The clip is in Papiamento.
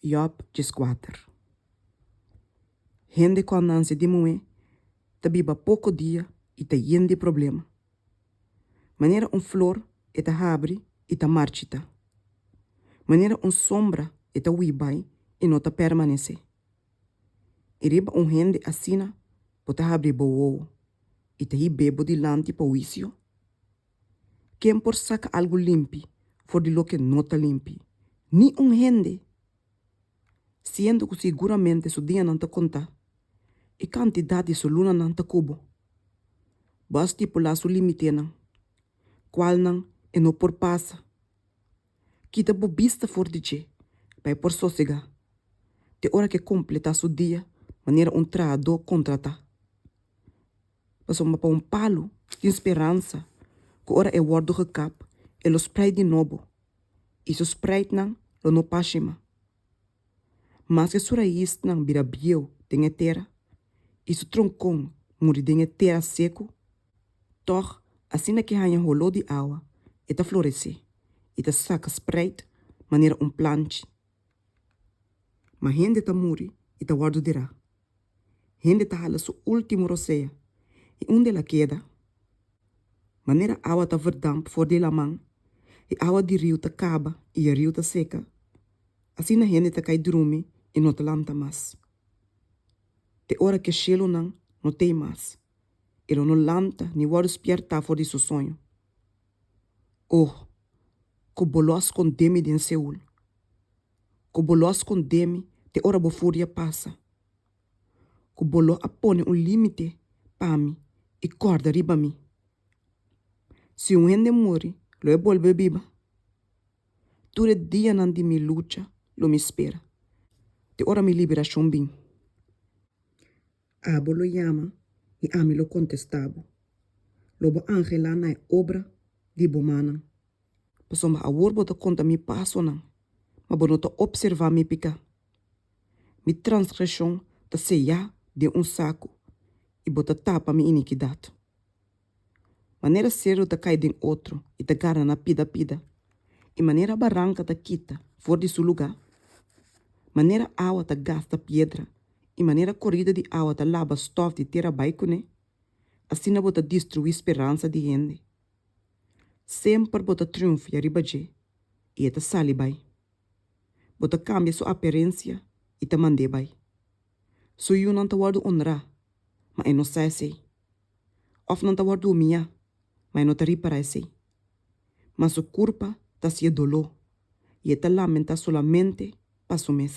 Job djes kuater. Hende ku a nanse di muhé ta biba poko dia i ta yen di problema. Manera un flor e ta habri i ta marchitá. Manera un sombra e ta hui bai i no ta permanesé. I riba un hende asina bo ta habri bo wowo i ta hib'é bo dilanti pa huisio? Ken por saka algu limpi for di loke no ta limpi? Ni un hende! Siendo ku siguramente su dianan ta kontá i kantidat di su lunanan ta kubo, bo a stipulá su limitenan kualnan e no por pasa. Kita bo bista for di dje, pa e por sosegá, te ora ke kompletá su dia manera un trahadó kontratá. Pasobra pa un palu tin speransa ku ora e wòrdu gekap, e lo spreid di nobo, i su spreidnan lo no pashe mas. Maske su raisnan bira bieu den e tera, i su tronkon muri den e tera seku, Tòg, asina ki haña holó di awa, e ta floresé i ta saka spreid manera un planch. Ma hende ta muri i ta wòrdu dirá. Hende ta hala su último rosea, i unda el a keda? Manera awa ta verdamp for di laman, i awa di riu ta kaba i e riu ta seka, asina hende ta kai drumi i no ta lanta mas, te ora ki e shelunan no t'ei mas. E lo no lanta ni wòrdu spièrtá for di su soño. O, ku bo lo a skondé mi den Seul, ku bo lo a skondé mi te ora bo furia pasa, ku bo lo a pone un límite pa mi i kòrda riba mi! Si un hende muri, lo e bolbe biba? Tur e dianan di mi lucha lo mi spera te ora mi liberashon bin. Abo lo yama i ami lo kontestá bo, Lo bo angelá na e obra di bo mannan. Pasobra awor bo ta konta mi pasonan, ma bo no ta opservá mi piká. Mi transgreshon ta seyá den un saku, i bo ta tapa mi inikidat. Manera seru ta kai den otro i ta garra na pida pida, i manera baranka ta kita for di su lugá, manera awa ta gasta piedra i manera korida di awa ta laba stòf di tera bai kuné, asina bo ta destruí speransa di hende. Semper bo ta triunfia riba dje, i e ta sali bai. Bo ta kambia su aperensia i ta mand'é bai. Su yunan ta wòrdu onrá ma e no sa esei. Òf nan ta wòrdu umiá, ma e no ta ri para esei. Ma su kurpa ta hasié doló i e ta lamentá solamente pa su mes.